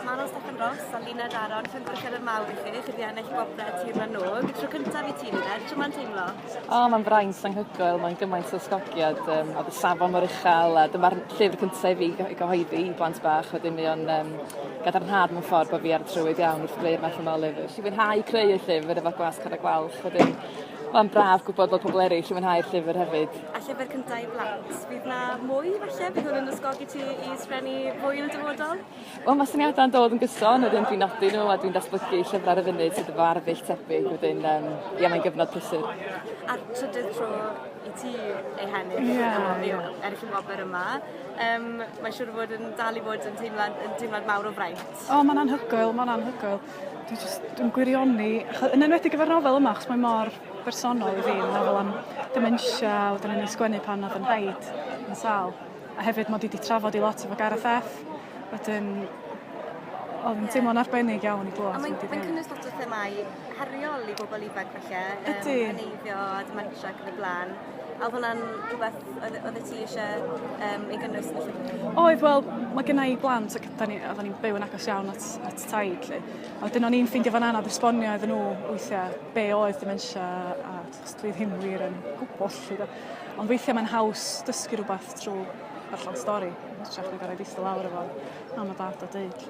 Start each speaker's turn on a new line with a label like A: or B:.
A: Manon Steffan Ross a Lina Daron, chi'n gweithio yn mawr i chi, chi wedi ennill gwobrau Tir na Nôg. Tro cyntaf i ti, Lina, tro mae'n teimlo? O, oh, mae'n fraint anghygoel, mae'n gymaint o sgogiad, um, a dy safon mor uchel, a dyma'r llyfr cyntaf i fi i gyhoeddi i blant bach, wedyn mi o'n um, gadarnhad mewn ffordd bod fi ar y trywydd iawn wrth greu'r math yma o lyfr. Fi fwynhau creu y llyfr efo gwas cad a gwalch, wedyn Mae'n braf gwybod bod pobl eraill yn mwynhau'r llyfr hefyd. A llyfr cyntaf i blant. Bydd na mwy falle? Bydd hwn yn ysgogi ti i sgrennu mwy yn y dyfodol? Wel ma' syniada'n dod yn gyson wedyn dwi'n nodi n'w a dwi'n datblygu llyfre ar y funud sydd efo arddull tebyg wedyn yym ie mae'n gyfnod prysur. A'r trydydd tro i ti ei hennill. Ie ie. Ie ennill y wobr yma yym mae'n siŵr o fod yn dal i fod yn teimlad yn teimlad mawr o fraint. O ma'n anhygoel ma'n anhygoel. Dwi jyst dwi'n gwirioni acho- yn enwedig efo'r nofel yma achos mae mor bersonol i fi meddwl am dementia a wedyn o'n i'n sgwennu pan o'dd 'yn nhaid yn sâl. A hefyd mod i 'di trafod i lot efo Gareth F. Wedyn oedd yn teimlo'n arbennig iawn i glywed. A mae'n mae'n cynnwys lot o themau heriol i bobl ifanc falle. Ydy. Um, heneiddio a dementia ac yn y blaen. A oedd hwnna'n rhywbeth oedd y ti eisiau um, ei gynnwys yn y llyfr? Oedd, wel, mae gennau i blant ac oedden ni'n ni byw yn agos iawn at, at taid. Lle. A wedyn o'n i'n ffeindio fan anodd esbonio iddyn nhw weithiau be oedd dementia a Os dwi ddim wir yn gwybod lly do. Ond weithiau mae'n haws dysgu rhywbeth trwy ddarllen stori yn hytrach na gorau eistedd lawr efo mam a dad a deud.